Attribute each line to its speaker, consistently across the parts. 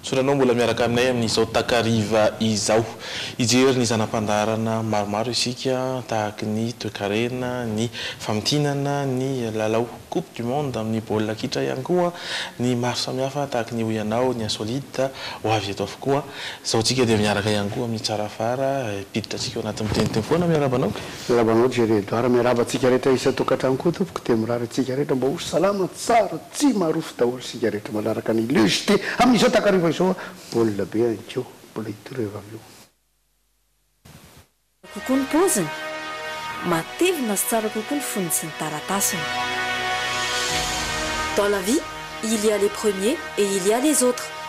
Speaker 1: Tsoranao mbola miaraka aminay amin'izao takariva izao. Hijery ny zana-pandaharana maromaro isika tahaka ny toekarena, ny famintinana, ny lalao coupe du monde amin'ny baolina kitra ihany koa ny maro samihafa tahaka ny hoy anao ny insolite ho avy eto avokoa. Izao tsika dia miaraka ihany koa amin'ny tsara fara hiditra antsika ao anatin'ny teny teny foana. Miarahaba anao. Miarahaba anao Jerry
Speaker 2: Edouard. Miarahaba antsika rehetra isan-tokantrano koa tompoko. Dia mirary antsika rehetra mba ho salama tsara Tsy marofo daholo isika rehetra manaraka ny Le JT amin'izao takariva izao a! Baolina be any ko, mbola hitoreva avy eo.
Speaker 3: Tsara kokoa ny paoziny, matevina sy tsara kokoa ny fonony sy ny taratasiny. Dans la vie, il y a les premiers et il y a les autres.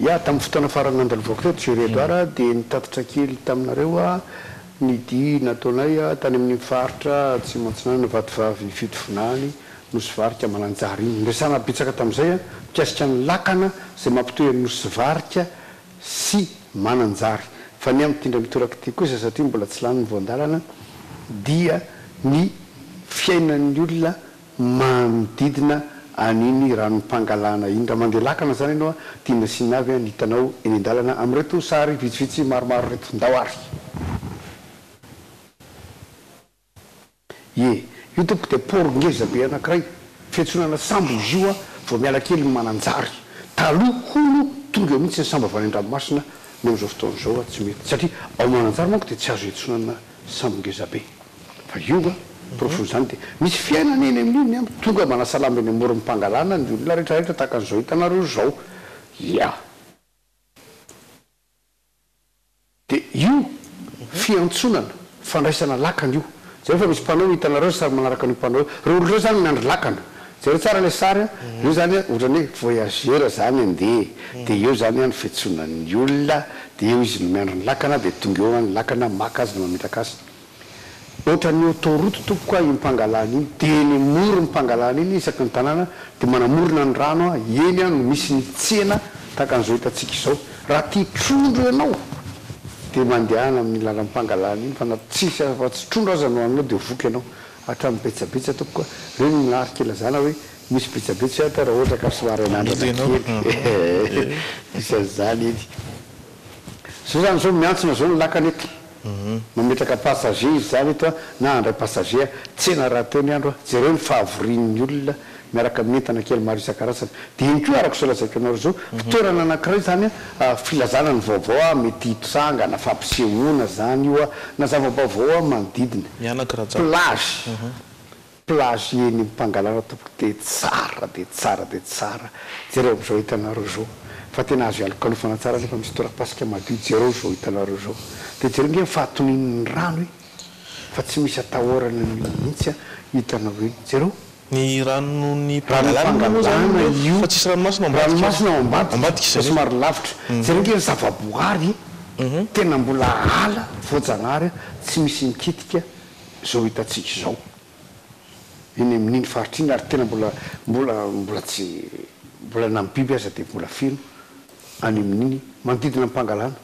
Speaker 2: Ya, tamin'ny fotoana farany nandalovako teto Jerry Edouard a, dia nitatitra kely taminareo aho ny dihy nataonay tany amin'iny faritra Atsimo Atsinanana Vatovavy Fitovinany Nosy Varika Mananjary iny. Niresahana betsaka tamin'izay mikasika ny lakana izay mampitohy an'i Nosy Varika sy Mananjary. Fa ny amin'ity indray mitoraka ity kosa satria mbola tsy lany ny voandalana dia ny fiainan'ny olona manodidina an'iny ranom-pangalana iny. Raha mandeha lakana izany ianao dia nasiana avy ny hitanao eny an-dalana amin'ireto sary vitsivitsy maromaro ireto. Ndao ary! Ie, io tompoko dia port ngeza be anankiray fiantsonana sambo izy io vao miala kelin'i Mananjary. Taloha hono tonga eo mihitsy ny sambo avy any an-dranomasina, ny amin'izao fotoana izao tsy mety satria ao Mananjary manko dia tsy azo iantsonana Sambo ngeza be. Fa io nga, porofon zany de misy fiainana eny amin'io ny amiko. Tonga manasalama eny amoron'ny pangalana ny olona rehetra rehetra tahaka an'izao hitanareo zao. Ya. De io fiantsonana, fandraisana lakana io. Zay fa misy panneau hitanareo sary manaraka an'io panneau io. Reo olona reo zany miandry lakana. Jereo tsara ilay sary a! Eo zany ohatrany hoe voyageur zany andeha dia eo zany an fiantsoana ny olona dia eo izy no miandry ny lakana dia tonga eo an ny lakana maka azy na mametraka azy. Ohatrany autoroute tompoko a iny mpangalana iny dia eny amoron'ny mpangalana iny isaky ny tanàna dia manamorona ny rano a eny an no misy ny tsena tahaka an'izao hitantsika izao. Raha tia trondro ianao dia mandehana amin'ny lalam-pangalana iny fa na tsisy afa tsy trondro aza no haninao dia voky ianao. Hatramin'ny betsabetsa tompoko a! Reny ny marika ilazana hoe misy betsabetsa ato raha ohatra ka somary anandrana kely ee! Misy an'izany eny. Zao zany zao miantsona zao ny lakana eto. Mametraka passager izy zany eto a na handray passager a! Tsena rahateo ny andro a! Jereo ny fahavorian'ny olona miaraka amin'ny entana kely maro isan-karazany. Dia iny koa, araka izao lazaiko anareo izao, fitoerana anankiray izany filazana ny vaovao mety hitranga, na fampisehoana izany io, na zava-baovao manodidina. Mianaka Rajako. Plage, plage eny Pangalana tompoko dia tsara dia tsara dia tsara. Jereo amin'izao hitanareo izao fa tena azo ialokalofana tsara nefa misy torapasika madio, jereo izao hitanareo izao. Dia jereo ange ny fahatonian'ny rano e! Fa tsy misy atahorana mihitsy hitanao eny. Jereo! Ny ranon'ny
Speaker 1: Pangalana moa izany io fa tsisy ranomasina ao ambadika. Ranomasina ao ambadika
Speaker 2: fa somary lavitra. Jereo kely zavaboary tena mbola ala voajanahary tsy misy mikitika izao hitantsika izao eny amin'iny faritra iny ary tena mbola mbola mbola tsy mbola na ny biby aza dia mbola feno any amin'iny manodidina ny Pangalana.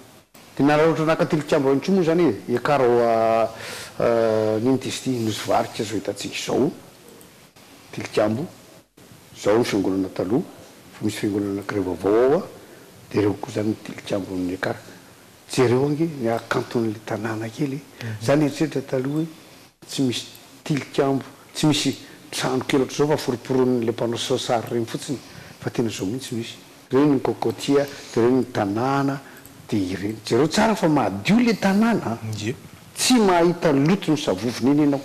Speaker 2: Dia nararaotra naka tilikambo ihany koa moa izany e, i Karo a, nino ty izy ity, nosy varika izao hitantsika izao, tilikambo, izao ny fiangonana taloha, efa misy fiangonana anankiray vaovao ao a, dia ireo koa izany ny tilikambon'i Ekara, jereo ange ny hakanton'ilay tanàna kely e, za nieritreritra taloha hoe tsy misy tilikambo, tsy misy trano kely ohatr'izao fa foroporon'ilay mpanao sary ireny fotsiny, fa tena izao mihitsy no izy. Reny ny cocotier de reny ny tanàna de ireny. Jereo tsara fa madio le tanàna a! Tsy mahita loto ny savovony eny ianao.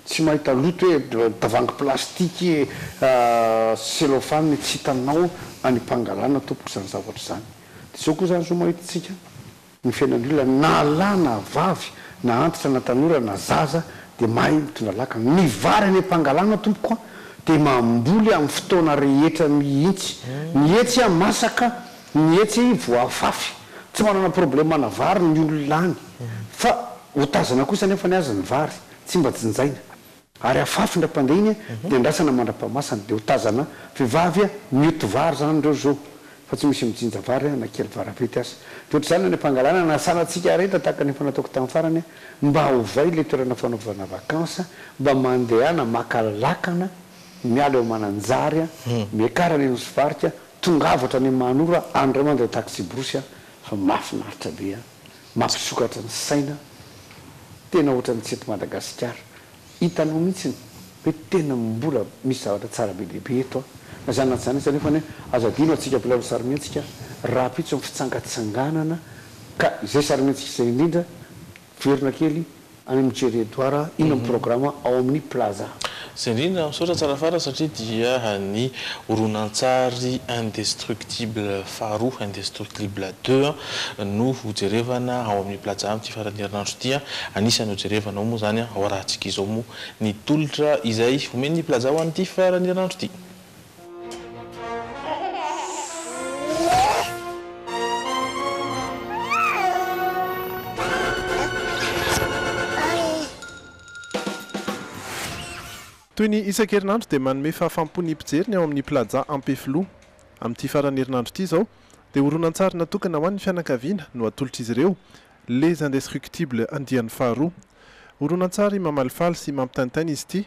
Speaker 2: Tsy mahita loto hoe tavoahangy plastique cellophane tsy hitanao any Pangalana tompoko izany zavatra izany. De zao koa izany zao mahita antsika Ny fiainan'olona na lahy na vavy na antitra na tanora na zaza dia mahay mitondra laka. Ny vary any am-pangalana tompoko a! dia mamboly amin'ny fotoana rehetra mihitsy. Ny hetsy a! masaka, ny hetsy voafafy. Tsy manana problème ana vary ny olona any. Fa otazana kosa anefa ny azy ny vary. Tsy mba jinjaina. Ary afafy ndra mpandeha iny de andrasana mandrapahamasana de ho tazana vevavy mioty vary zany reo zo fa tsy misy mijinja vary na kely varavety aza de otrzany any ampangalana anasana tsika areta tahaka ny efa nataoko tany farany mba ovay le toerana fanaovana vacances mba mandehana maka lakana miala eo mananjary miakara any nosy varika tongava hatrany manora any ray mandray taxi brosy fa mafinaritra be a. Mampisokatra ny saina, tena ohatran'ny tsy eto Madagasikara, hitanao mihitsiny hoe tena mbola misy zavatra tsara be dia be eto an! Na izany na tsy izany aza nefa anie aza adino antsika mpilalao sarimihetsika rahampitso ny fitsangatsanganana ka izay sarimihetsika izay indrindra, verina kely Any amin'ny Jerry Edouard ino amin'ny programa ao amin'ny Plaza. Izay indrindra,
Speaker 1: misaotra tsara fara satria dia ny horonantsary Indestructible faharoa, Indestruclible deux, no hojerevana ao amin'ny Plaza amin'ity faran'ny herinandro ity. Anisan'ny hojerevana ao moa izany ao raha antsika izao moa ny tolotra izay omen'ny Plaza ho an'ity faran'ny herinandro ity.
Speaker 4: Toy ny isan-kerinandro dia manome fahafam-po ny mpijery ny ao amin'ny Plaza Ampefiloha. Amin'ity faran'ny herinandro ity izao dia horonantsary natokana ho an'ny fianakaviana no atolotr'izy ireo, Les Indestructibles andiany faharoa. Horonantsary mamalifaly sy mampitaintaina izy ity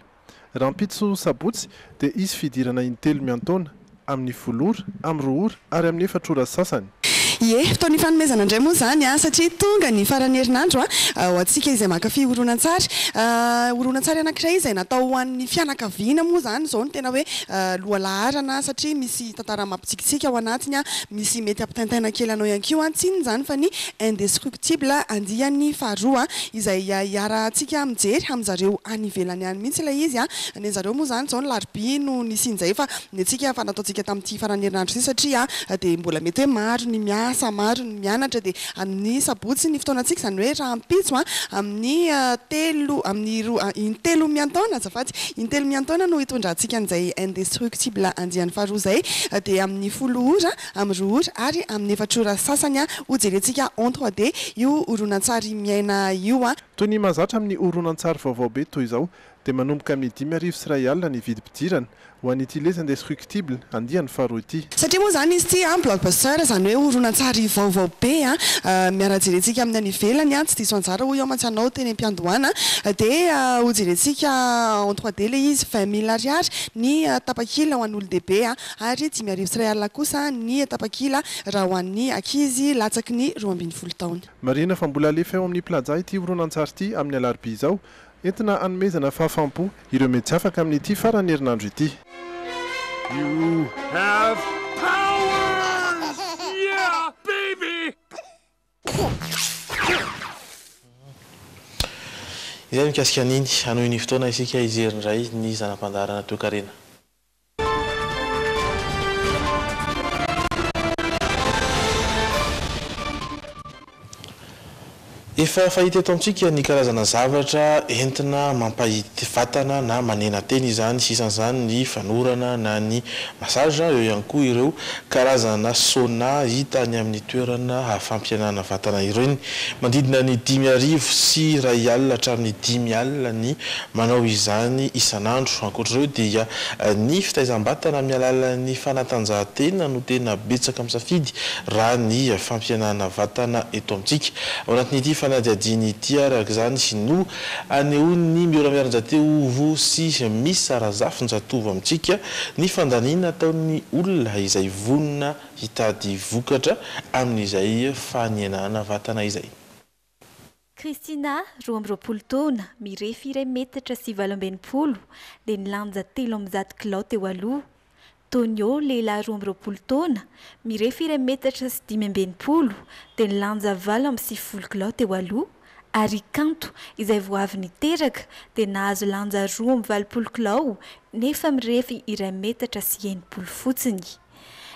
Speaker 4: Rahampitso sabotsy dia hisy fidirana intelo miantaona, amin'ny folo ora, amin'ny roa ora ary amin'ny efatra ora sasany. Ie, fotoana
Speaker 5: ifanomezana indray moa izany satria tonga ny faran'ny herinandro ho antsika izay mankafy horonantsary. Horonantsary anankiray izay natao ho an'ny fianakaviana moa izany izao no tena hoe lohalaharana satria misy. tantara mampitsikitsiky ao anatiny, misy mety hampitaintaina kely anao ihany koa, tsy inona izany fa ny Indestructible andiany faharoa, izay iarahantsika mijery amin-dry zareo any ivelany any mihitsy ilay izy, ny an'i zareo moa izany izao ny larobia no nisian'izay fa ny antsika efa nataontsika tamin'ity faran'ny herinandro ity satria dia mbola mety hoe maro ny miasa, maro ny mianatra dia Amin'ny sabotsy ny fotoanantsika, izany hoe rahampitso a, amin'ny telo, amin'ny roa, intelo miantaona azafady, intelo miantaona no hitondrantsika an'izay Indestructible andiany faharoa izay, dia amin'ny folo ora, amin'ny roa ora ary amin'ny efatr'ora sasany ho jerentsika en trois D io horonantsary miaina io. Toy ny mahazatra amin'ny
Speaker 4: horonantsary vaovao be toy izao, dia manomboka amin'ny dimy arivo sy iray alina ny vidim-pidirana, ho an'ity Les Indestructibles, andiany faharoa ity. Satria moa izany izy ity,
Speaker 5: blockbuster, izany hoe horonantsary vaovao be, miara-jerentsika amin'ny any ivelany, tsy diso anjara hoy aho mantsy anao teny am-piandohana, dia hojerentsika en trois D ilay izy, vingt mille ariary ny tapakila ho an'olon-dehibe ary dimy arivo sy iray alina kosa ny tapakila raha ho an'ny ankizy latsaky ny roa ambin'ny folo taona. Marihina fa mbola alefa
Speaker 4: eo amin'ny Plaza ity horonantsary ity amin'ny alarobia izao, Entina hanomezana fahafaham-po ireo mety afaka amin'ity faran'ny herinandro ity.
Speaker 6: You have powers! Yeah, baby!
Speaker 1: Indray mikasika an'iny, hanohy ny fotoana isika hijery indray ny zana-pandaharana toekarena. Efa fahita eto amintsika ny karazana zavatra entina mampahity vatana na manena tena izany, isan'izany ny fanorana na ny massage, eo ihany koa ireo karazana sauna hita any amin'ny toerana fampihenana vatana ireny. Manodidina ny dimy arivo sy iray alina hatramin'ny dimy alina ny Manao izany isan'andro. Ankoatra ireo dia ny fitaizam-batana amin'ny alalan'ny fanatanjahantena no tena betsaka misafidy raha ny fampihenana vatana eto amintsika. Ao anatin'ity fanadihadiana ity araka izany no anehoan'ny Miora Miarinjateovo sy Misa Razafinjatovo amintsika ny fandaniana ataon'ny olona izay vonona hitady vokatra amin'izay fanenana vatana izay.
Speaker 7: Christina, roa amby roapolo taona, mirefy iray metatra sy valo amby enimpolo, dia nilanja telo amby zato kilao teo aloha. Tonio, lehilahy roa amby roapolo taona, mirefy iray metatra sy dimy amby enimpolo, dia nilanja valo amby sivifolo kilao teo aloha, ary i Kanto, izay vao avy niteraka, dia nahazo lanja roa amby valopolo kilao nefa mirefy iray metatra sy enimpolo fotsiny.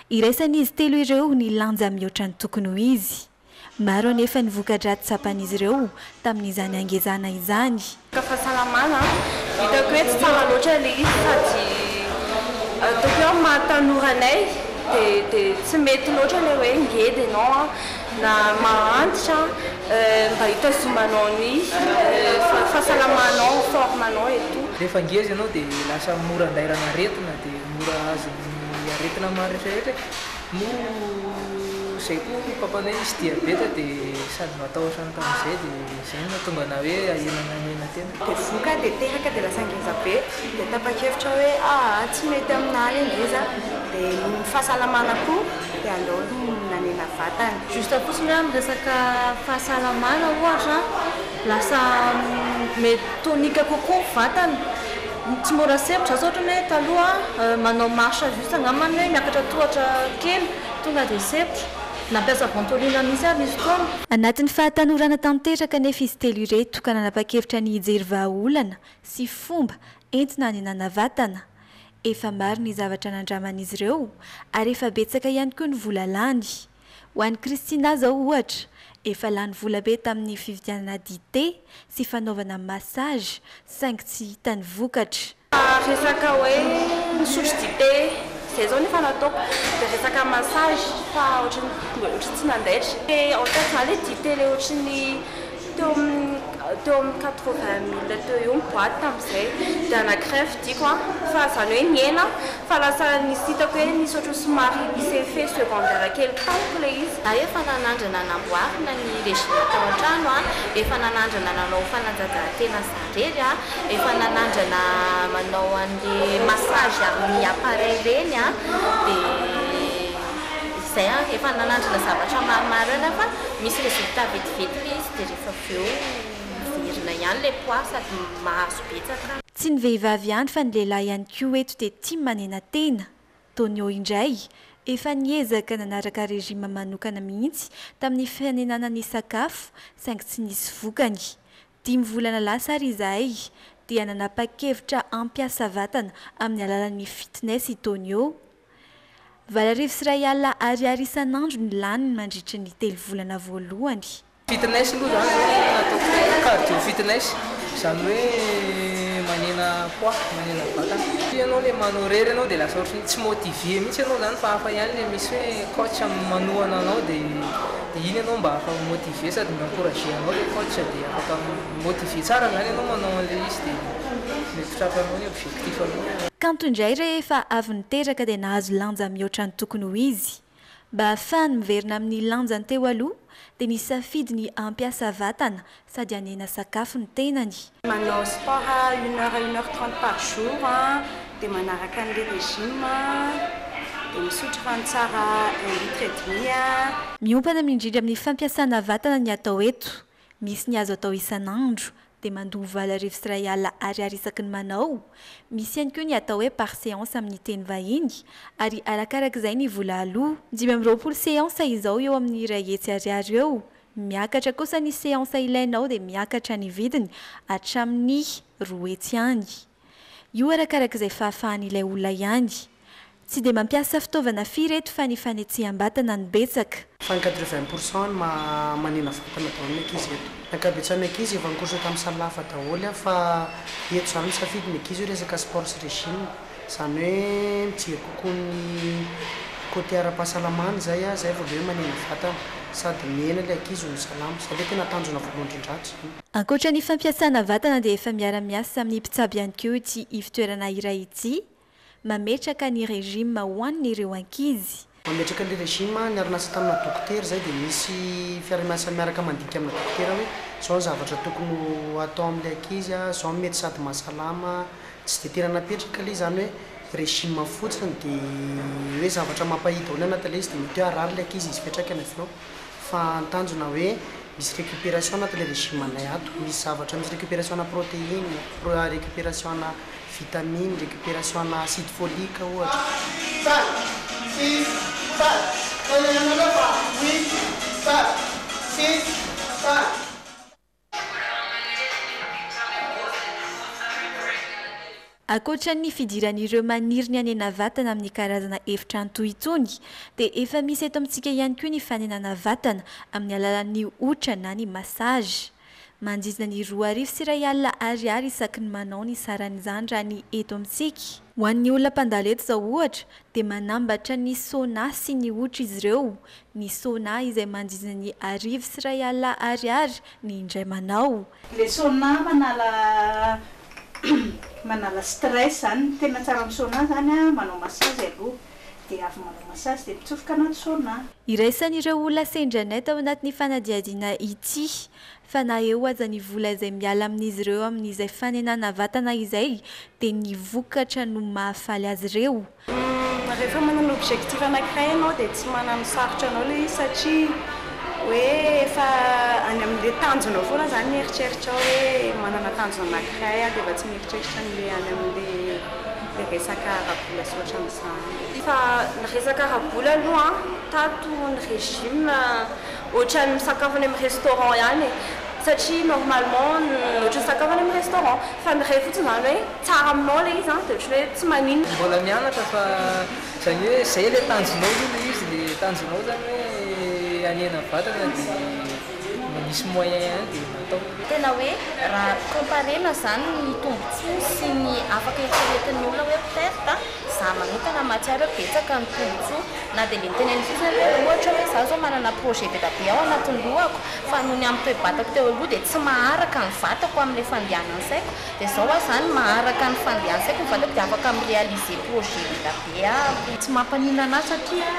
Speaker 7: Iraisan'izy telo ireo ny lanja mihoatra ny tokony ho izy. Maro anefa ny voka-dratsy tsapan'izy ireo tamin'izany hangezana izany. Resaka fahasalamana,
Speaker 8: hitako hoe tsy tsara loatra ilay izy sady ataoko hoe amin'ny maha tanora anay dia tsy mety loatra ilay hoe ngeda ianao na mahantra, mba hitazomanao ny fahasalamanao, forme anao et tout. Rehefa ngeza ianao dia
Speaker 9: lasa mora andairana aretina dia mora azon'ny aretina maro rehetra rehetra e! Noho zay koa ny papanay misy diabeta de sady matahotra ny tamin'izay de zay no nahatonga anah hoe ahena nahena tena. Dia voka dia teraka
Speaker 10: dia lasa ngeza be dia tapakevitra hoe aa tsy mety aminah le ngeza de noho ny fahasalamana koa dia aleo nanena vatana. Juste fotsiny hoe amin'ny
Speaker 8: resaka fahasalamana ohatra lasa mety tonique kokoa ny vatana. Tsy mora sempotra, asa ohatrany hoe taloha manao marche à juste angamba ny hoe miakatra tohatra kely tonga dia sempotra. Nampiasa ventolin mihitsy ary nisy fotoana. Anatin'ny fahatanorana
Speaker 7: tanteraka anefa izy telo ireto ka nanapa-kevitra ny hijery vahaolana sy fomba entina hanenana vatana. Efa maro ny zavatra nandraman'izy ireo ary efa betsaka ihany koa ny vola lany. Ho an'i Christina izao ohatra, efa lany vola be tamin'ny fividianana dite sy fanaovana massage saingy tsy hita ny vokatra. Resaka hoe
Speaker 8: misotro dite, izay izao nefa no ataoko, dia resaka massage fa ohatran'ny ohatran'ny tsy nandaitra. Dia ao an-tsaiko izany ilay dite ilay ohatran'ny. Teo amin'ny teo amin'ny quatre vingt mille teo eo ny boite tamin'izay dia anankiray ny fidiko an, fa izany hoe nihena fa lasa nisy hitako hoe nisy ohatran'ny somary misy effet secondaire kely tamiko ilay izy. Za efa nanandrana
Speaker 10: namboarina ny régime tao an-trano an, efa nanandrana nanao fanatanjahantena za irery an, efa nanandrana manao an'le massage amin'ny appareil ireny an, dia izay an, efa nanandrana zavatra maromaro ihany an fa misy résultat be dia be. Vetivety izy dia rehefa avy eo miverina ihany ilay poids sady mahazo betsaka. Tsy ny vehivavy
Speaker 7: ihany fa ny lehilahy ihany koa eto dia tia manenatena. Tonio indray, efa niezaka nanaraka régime manokana mihitsy tamin'ny fanenana ny sakafo saingy tsy nisy vokany. Dimy volana lasa ary izahay dia nanapa-kevitra hampiasa vatana amin'ny alalan'ny fitness i Tonio. Valo arivo sy iray alina ariary isan'andro ny laniny mandritra ny telo volana voalohany. Fitness aloha
Speaker 9: izany izao no tena ataoko, cardio fitness, izany hoe manena poids, manena vatana. Satria ianao ilay manao irery ianao dia lasa ohatran'ny tsy motiver mihitsy ianao izany fa hafa ihany ilay misy hoe coach manohana anao dia. Dia iny ianao mba afaka mi-motiver sady ny encourager anao ilay coach dia afaka mi-motiver tsara izany ianao manao an'ilay izy dia mety ho trapanao ny objectif anao. Kanto indray rehefa
Speaker 7: avy niteraka dia nahazo lanja mihoatra ny tokony ho izy. Mba hahafahany miverina amin'ny lanjany teo aloha dia nisafidy ny hampiasa vatana Sady hanena sakafo ny tenany. Manao sport
Speaker 10: à une heure à une heure trente par jour dia manaraka an'ilay régime dia misotro rano tsara un litre et demi. Miompana
Speaker 7: mindrindra amin'ny fampiasana vatana ny atao eto. Misy ny azo atao isan'andro, dia mandoa valo arivo sy iray alina ariary isaky ny manao. Misy ihany koa ny atao hoe par séance amin'ny teny vahiny ary arakarak'izay ny vola aloa. Dimy amby roapolo séance izao eo amin'ny iray hetsy ariary eo Miakatra kosa ny seansa ilainao dia miakatra ny vidiny hatramin'ny roa hetsy any. Io arakarak'izay fahafahan'ilay olona ihany. Tsy dia mampiasa fitaovana firy eto fa ny fanetseham-batana no betsaka. Fa ny quatre vingt pour
Speaker 11: cent ny maha manina vatana daholo ny ankizy eto. Ny ankabetsahan'ny ankizy efa nikourse tamin'ny salle hafa daholo an fa eto izany misafidy ny ankizy hoe resaka sport sy régime. Izany hoe mijery kokoa ny côté ara-pahasalamana izay an, izay vao indray manimba vatana, sady mihena ilay ankizy ho salama. Izay aloha tena tanjona voalohany indrindratra izany. Ankoatra ny
Speaker 7: fampiasana vatana dia efa miara-miasa amin'ny mpitsabo ihany koa ity ivotoerana iray ity, mametraka ny régime ho an'ireo ankizy. Mametraka an'ilay régime
Speaker 11: niara-niasa tamina dokotera izay dia misy fiaraha-miasa miaraka mandika amina dokotera hoe izao ny zavatra tokony ho atao amin'ilay ankizy, izao no mety sady mahasalama, tsy dia tena napetraka ilay izany hoe régime fotsiny dia hoe zavatra mampahidy ao ilay anaty ilay izy dia mety hoe harary ilay ankizy izy fetraka ny avy eo. fa ny tanjona hoe misy récupération anaty le régime anay ato, misy zavatra, misy récupération ana protéine, récupération ana vitamine, récupération ana acide folique ohatra.
Speaker 7: Ankoatra ny fidiran'ireo maniry ny hanena vatana amin'ny karazana efitrano toy itony dia efa misy eto amintsika ihany koa ny fanenana vatana amin'ny alalan'ny hotra na ny massage. Manjizina ny roa arivo sy iray alina ariary isaky ny manao ny saran'izany raha ny eto amintsika. Ho an'ny olona mpandalo eto izao ohatra dia manambatra ny Sona sy ny Otra izy ireo, ny Sona izay mandrindra ny arivo sy iray alina Ariary ny indray manao. Ilay Sona
Speaker 12: manala manala stress izany, ny tena tsara amin'ny Sona izany an, manao massage aloha, dia avy manao massage dia mitsofoka anaty Sona. Iraisan'ireo olona
Speaker 7: sendranay tao anatin'ny fanadihadiana ity, fa na eo aza ny vola izay miala amin'izy ireo amin'izay fanenana vatana izay dia ny vokatra no mahafaly azy ireo. Rehefa
Speaker 8: manana objectif anankiray ianao dia tsy mananosarotra anao ilay izy satria hoe efa any amin'ilay tanjonao foana izany ny eritreritrao hoe manana tanjona anankiray aho dia efa tsy mieritreritra an'ilay any amin'ilay resaka ara-bola sy ohatran'izany. Fa ny resaka ara-bola aloha an, tato ny régime Ohatran'ny misakafo any amin'ny restaurant ihany e! Satria normalement ohatran'ny misakafo any amin'ny restaurant, fa ny ray fotsiny izany hoe tsara aminao ilay izy an, dia ohatran'ny hoe tsy maninona. Mbola mianatra fa
Speaker 9: izany hoe izay ilay tanjonao aloha ilay izy, ilay tanjonao izany hoe hanena vatana dia mba misy moyen ihany dia atao. Tena hoe
Speaker 10: raha comparer-na izany ny tombontsoa sy ny afaka eritreretin'ny olona hoe perte an! Za manokana mahatsiaro hoe betsaka ny tombotsoa na dia le niteneniny fotsiny aza hoe ohatra hoe za zao manana projet be da be ao anatin'ny lohako fa noho ny amin'ny toe-batako teo aloha dia tsy maharaka ny vatako amin'ilay fandehanan'ny saiko dia zao aho zany maharaka ny fandehan'ny saiko ny vatako dia afaka mi-realiser projet ela be aho. Tsy mampaninona anah satria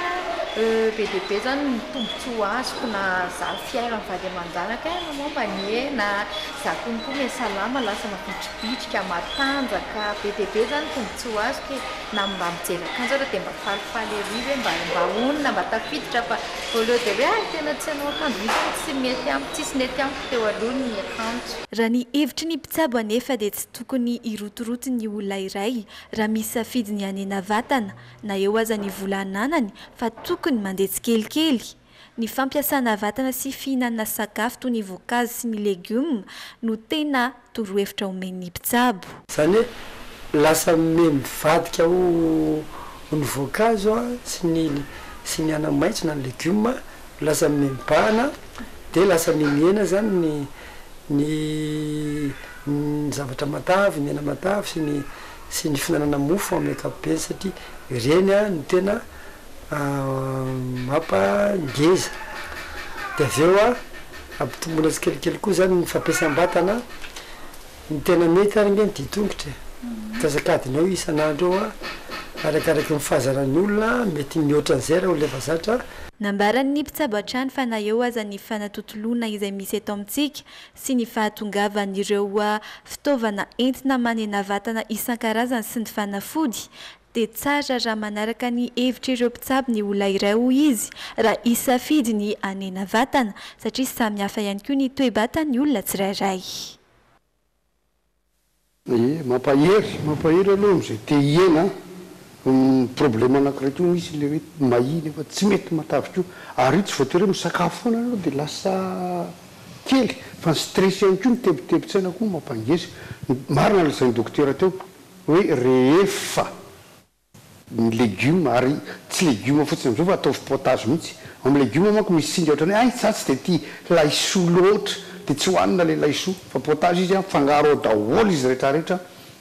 Speaker 10: be dia be zany ny tombotsoa azoko na za fiharan'ny vady aman-janako eh momba anie na Za koa mikomy e salama lasa mavitribitrika matanjaka be dia be zany tombotsoa azoko e na mba mijery akanjo ary dia mba falifaly ery hoe mba mba honina mba tafiditra fa au lieu de hoe hay tena tsy hanao akanjo mihitsy aho tsy mety amiko tsisy nety amiko teo aloha ny akanjo Raha ny hevitry ny
Speaker 7: mpitsabo anefa dia tsy tokony hirotoroto ny olona iray raha misy safidy ny hanena vatana na eo aza ny vola ananany fa tokony mandeha tsikelikely Ny fampiasana vatana sy fihinanana sakafo toy ny voankazo sy ny legioma no tena torohevitra omen'ny mpitsabo. Izany hoe
Speaker 13: lasa miha mivadika ho ny voankazo sy ny sy ny anamaitso na ny legioma no lasa miha mibahana dia lasa miha mihena izany ny ny ny zavatra matavy, ny hena matavy sy ny sy ny fihinanana mofo amin'ny ankapobeny satria ireny no tena mampa ngeza dia avy eo ampitomboina tsikelikely koa izany ny fampiasam batana ny tena mety ary nge ny dihy tongotra e antsasakadinao isan'andro eo arakaraky ny fahazaran'ny olona mety mihoatra an'izay raha olona efa zatra Nambaran'ny mpitsabo
Speaker 7: hatrany fa na eo aza ny fanatontoloana izay misy eto amintsika sy ny fahatongavan'ireo fitaovana entina manena vatana isan-karazany sy ny fanafody, dia tsara raha manaraka ny hevitr'ireo mpitsabo ny olona iray, hoy izy, raha hisafidy ny hanena vatana, satria samy hafa ihany koa ny toe-batan'ny olona tsirairay.
Speaker 2: Ye, mampahery, mampahery aloha amin'izay te hihena an, ny problème anankiray koa misy ilay hoe mahia nefa tsy mety matavy koa, ary io tsy voatery hoe misakafo foana ianao dia lasa kely fa ny stress ihany koa, ny tebitebin-tsaina koa mampangeja, marina ilay lazain'ny dokotera teo hoe rehefa. ny legioma ary tsy legioma fotsiny amizao fa ataovy potage mihitsy, ao am legioma manko misy singa ohatrany hoe ay za tsy de tia laisoa loatra de tsy hoanina le laisoa fa potage izy an fangaro ao daholo izy retraretra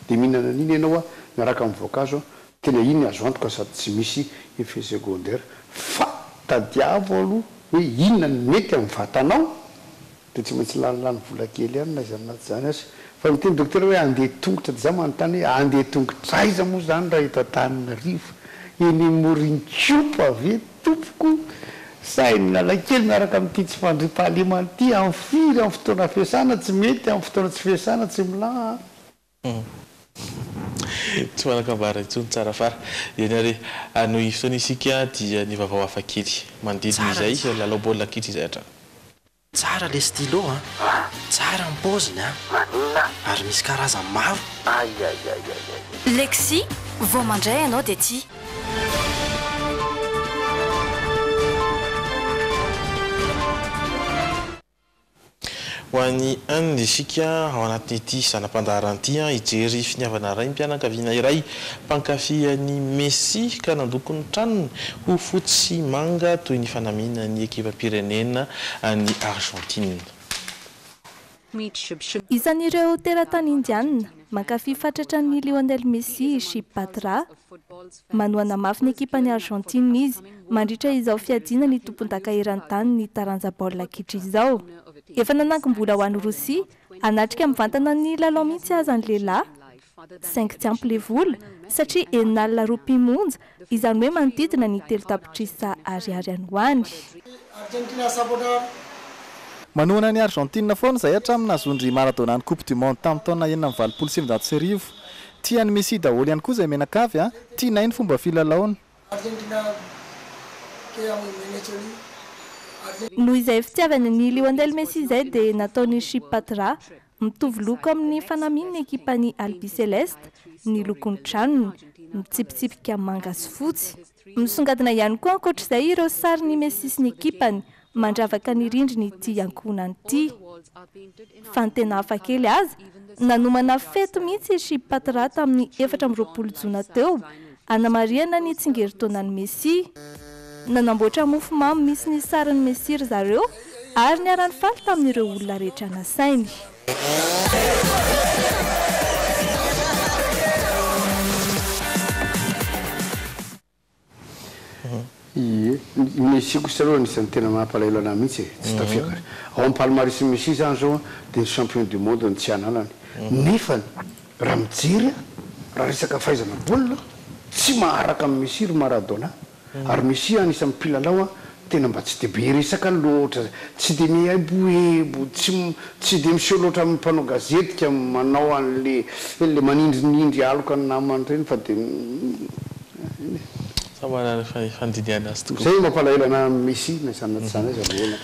Speaker 2: de mihinana an'iny ianao an miaraka am voankazo an tena iny azo antoka sady tsy misy effet secondaire fa tadiavo aloha hoe inona no mety am vatanao Dia tsy maintsy lany lany vola kely ihany na izany na tsy izany aza. Fa miteny Dokotera hoe handeha tongotra dia za manontany hoe handeha tongotra aiza moa izany raha eto Antananarivo? Eny Morininkiopa ve tompoko? Sa eny Analakely miaraka amin'ity tsy fandriampahalemana ity? Amin'ny firy? Amin'ny fotoana fiasana? Tsy mety amin'ny fotoana tsy fiasana, tsy milaha an!
Speaker 1: Tsy manan-kambara intsony tsara fara. Eny ary, hanohy fotoana isika dia ny vaovao hafa kely. Manodidina izay, lalao baolina kitra izay hatrany. Tsara le
Speaker 14: stylo a! Tsara ny paoziny a! Maninona? Ary misy karazany maro. Aiaiaiaiaiai. Lexy,
Speaker 3: vao mandray ianao dia tia.
Speaker 1: Ho an'i Anne, isika ao anatin'ity zana-pandaharana ity, hijery finiavana raim-pianakaviana iray mpankafy an'i Messi ka nandoko ny tranony ho fotsy sy manga toy ny fanamian'ny ekipam-pirenena an'i Argentine.
Speaker 15: Isan'ireo teratany Indiana mankafy fatratra an'i Lionel Messi i Shib Batra. Manohana mafy ny ekipan'i Argentine izy mandritra izao fiadiana ny tompondaka eran-tanin'ny taranja baolina kitra izao. Efa nanangom-bola ho any Rosia hanatrika mivantana ny lalao mihitsy aza ny lehilahy, saingy tsy ampy ilay vola satria enina alina ropia monja, izany hoe manodidina ny telo tapitrisa ariary any ho any.
Speaker 16: Manohana an'i Argentine foana izay hatramin'ny nahazoan-dry Maradona ny Coupe du Monde tamin'ny taona enina amby valopolo sy sivinjato sy arivo. Tia an'i Messi daholo ihany koa izay menakavy a! Tianay ny fomba filalaony. Argentina que amo y me han
Speaker 15: hecho y Argentina. Noho izay fitiavany an'i Lionel Messi izay dia nataony Chip Patra, mitovy loko amin'ny fanamian'ny ekipan'ny Albiceleste, ny lokon-tranony, mitsipitsipika manga sy fotsy. Misongadina ihany koa ankoatra izay ireo sarin'i Messi sy ny ekipany mandravaka ny rindrin'ity ankohonany ity. Fa ny tena hafa kely aza, nanomana fety mihitsy i Chip Patra tamin'ny efatra amby roapolo jona teo hanamarihana ny tsingerintaonan'i Messi. Nanamboatra mofo mamy misy ny sarin'i Messi ry zareo ary niara-nifaly tamin'ireo olona rehetra nasainy.
Speaker 2: Ie, ny Mexico sisa aloha anisan'ny tena mampalahelo an'ahy mihitsy e, tsy tafiako ary. Ao amin'ny palmarès-n'i Messi izany izao dia ny champion du monde no tsy ananany. Nefany, raha mijery aho, raha resaka fahaizana baolina, tsy maharaka an'i Messi ry Maradona. Ary Messi an isan'ny mpilalao an tena mba tsy dia be resaka loatra, tsy dia miaibohaibo, tsy tsy dia miseho loatra amin'ny mpanao gazety ka manao an'le le manindrinindry aloka ny namany ireny fa dia Samy
Speaker 1: manana ny fandinihana azy tokoa. Izay no mampalahelo anah
Speaker 2: Messi na izany na tsy izany aza loholona.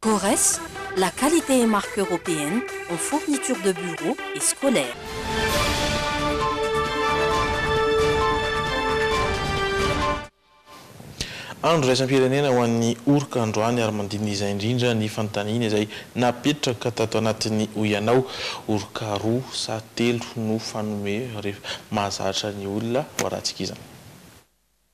Speaker 17: Corres, la qualité et marque européenne en fourniture de bureau et scolaire.
Speaker 1: Andro iraisam-pirenena ho an'ny oroka androany ary mandinizay indrindra ny fanontaniana izay napetraka tato anatin'ny Hoy Ianao. Oroka roa sa telo no fanome rehefa mahazatra ny olona ho arantsika izany.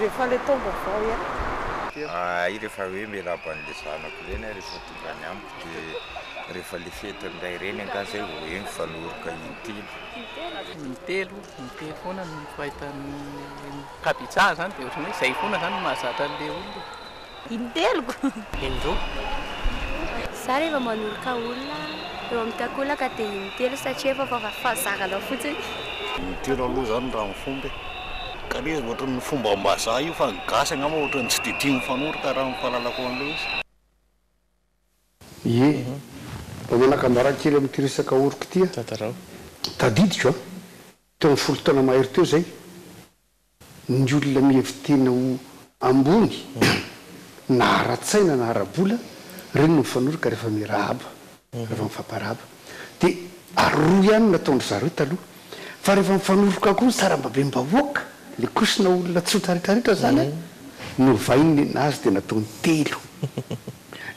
Speaker 18: Rehefa le taom-baovao ihany. Ahay
Speaker 19: rehefa hoe miarahaba an'le zanako ireny aho rehefa tonga any amiko dia rehefa le fety indray ireny angaha zay vao hoe mifanoroka intelo. Intelo,
Speaker 9: intelo foana no fahitan'ny ankabetsaha zany dia ohatran'ny hoe zay foana zany no mahazatra an'le olona e. Inteliko.
Speaker 8: Indroa. Za rehefa manoloka olona eo amin'ny takolaka dia intelo satria efa fahazaranao fotsiny. Intelo aloha
Speaker 20: zany raha ny fomba e. Ka le izy ohatry ny fombam-bazaha io fa ny gasy angamba ohatry ny tsy dia tia mifanorta raha ny fahalalako an'ilay izy.
Speaker 2: Ie, mba manaka anjara kely amin'ity resaka oriko ity aho. Tantarao. Tadidiko an, teo amin'ny folo taona mahery teo izay, Ny olona mihevi-tena ho ambony na ara-tsaina na ara-bola, ireny no mifanoroka rehefa mirahaba, rehefa mifamparahaba. Dia aroa ihany no nataon-dry zareo taloha. Fa rehefa mifanoroka koa ny sarambabem-bahoaka, ilay kosona olona tsotra rehetra rehetra izany, novain'ny nenazy dia nataony telo.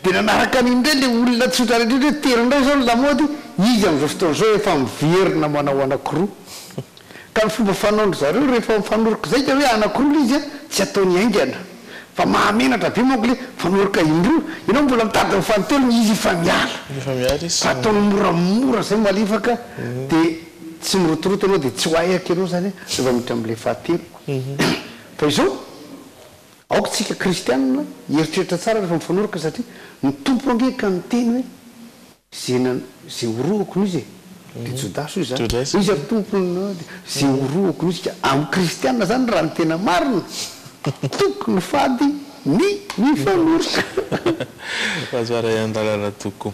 Speaker 2: Dia nanaraka an'iny indray ilay olona tsotra rehetra hoe tery indray izao ny lamaody, izy amin'izao fotoana izao efa miverina manao anankiroa. Ka ny fomba fanaon-dry zareo rehefa mifanoroka izay dia hoe anankiroa ilay izy, tsy ataony haingana. Fa mahamenatra be manko ilay mifanoroka indroa, ianao mbola mitady amin'ny fahatelony, izy efa miala. Efa miala izy. Fa ataony moramora izay malefaka dia tsy mirotoroto ianao dia tsy ho ahy aky ianao izany an, rehefa miditra amin'ilay fahatelo. Fa izao. Aoka isika kristianina hieritreritra tsara rehefa mifanoroka satria ny Tompo ange ka niteny hoe ze na ze horohoko noho izy e! dia Jodasy hoy izany hoe iza ry Tompo na dia ze horohoko noho izy ka amin'ny kristianina izany raha ny tena marina tokony fady ny mifanoroka.
Speaker 1: Razoarahiandalana Toko.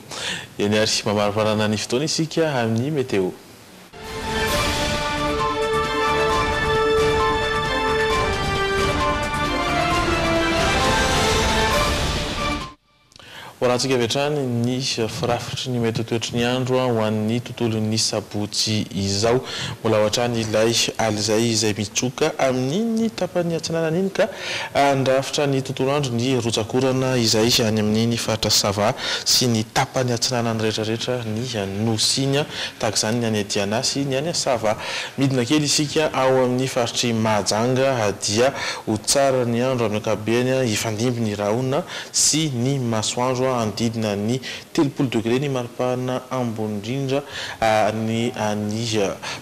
Speaker 1: Eny ary, mamarivarana ny fotoana isika amin'ny meteo. Horantsika avy hatrany ny firafitry ny mety ho toetry ny andro ho an'ny tontolon'ny sabotsy izao. Mbola ao hatrany ilay alizay izay mitsoka amin'iny tapany atsinanana iny ka Handrafitra ny tontolo andro ny rotsak'orana izay any amin' ny faritra Sava sy ny tapany atsinanany rehetrarehetra ny Nosy-ny, tahaka izany ny any Diana sy ny any Sava. Midina kely isika ao amin' ny faritr'i Mahajanga dia ho tsara ny andro amin' ny ankapobeny, hifandimby ny rahona sy ny masoandro handidina ny Telopolo degre ny maripana ambony indrindra any any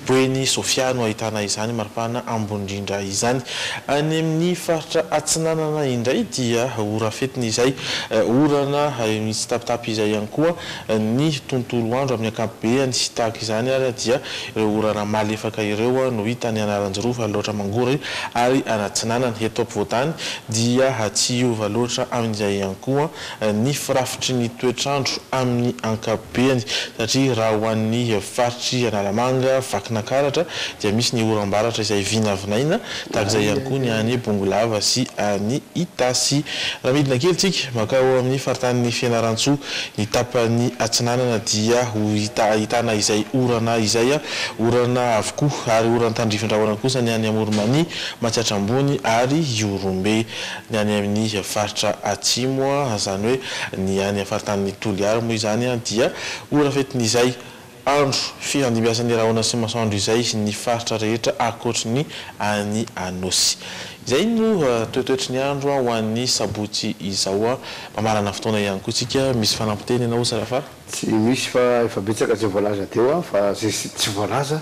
Speaker 1: Bueni Sofia no ahitana izany maripana ambony indrindra izany. Any amin'ny faritra atsinanana indray dia ho rafetina izay orana mitsitapitapy izay ihany koa ny tontolo andro amin'ny ankapobeany. Tahaka izany ary dia ireo orana malefaka ireo no hita any Anaranjirofo, Alaotra Mangoro ary any atsinanana. Eto ampovoantany dia tsy hiova loatra amin'izay ihany koa ny firafitry ny toetr'andro amin'ny ankapobeny satria raha ho an'ny faritr'i Analamanga, Vakinankaratra dia misy ny oram-baratra izay vinavinaina tahaka izay ihany koa ny any Bongolava sy any Itasy. Raha midina kely tsika mankao amin'ny faritanin'i Fianarantsoa, ny tapany atsinanana dia ho hita ahitana izay orana izay, orana avokoa ary oran'ny tandrifindrahona kosa ny any Amoron'i Mania, Matsiatra Ambony ary Ihorombe. Ny any amin'ny faritra atsimo, izany hoe ny any faritanin'i Toliary moa izany dia ho rafetin'izay andro fiandimbiasan'ny rahona sy masoandro izay ny faritra rehetra ankoatry ny any Anosy. Izay no toetoetry ny andro ho an'ny sabotsy izao. Mamarana fotoana ihany koa isika. Misy fanampin-teny ianao sa fa. Tsy misy fa
Speaker 2: efa betsaka izay voalaza teo fa izay tsy voalaza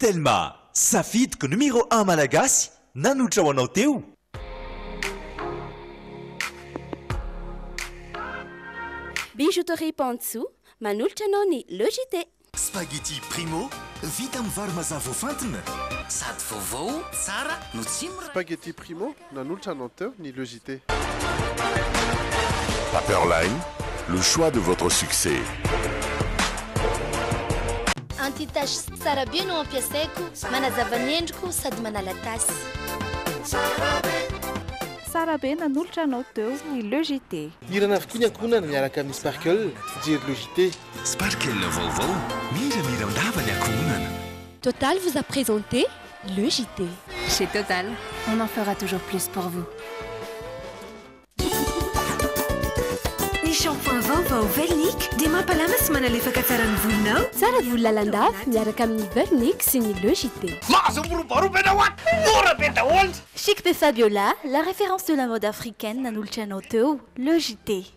Speaker 4: Telma, safidiko numéro un malagasy nanotra ho anao teo.
Speaker 5: Bijouterie Pantsu manolotra anao ny Le JT. Spaghetti Primo,
Speaker 4: vita amin'ny vary mazà voafantina. Sady vaovao,
Speaker 21: tsara no tsy miray. Spaghetti Primo,
Speaker 22: nanolotra anao teo ny Le JT.
Speaker 23: Paperline, le choix de votre succès.
Speaker 24: Anti taches tsara be no ampiasaiko, manazava ny endriko sady manala tasy. Tsara be. Tsara
Speaker 15: be, nanolotra anao teo ny Le JT. Hirana avokoa ny
Speaker 1: ankohonana miaraka amin'ny Sparkle, fijery Le JT. Sparkle
Speaker 6: vaovao, miramira am-bava ny ankohonana. Total vous a
Speaker 5: présenté le JT. Chez Total,
Speaker 10: on en fera toujours plus pour vous.
Speaker 11: Ny shampoing vaovao Velnic dia mampalama sy manalefaka tsara ny volonao. Tsara volo lalandava
Speaker 5: miaraka amin'ny Velnic sy ny le JT. Mahazo miroboroba ianao an! Mora
Speaker 7: be daholo! Chic de Fabiola, la référence de la mode africaine nanolotra anao teo le JT.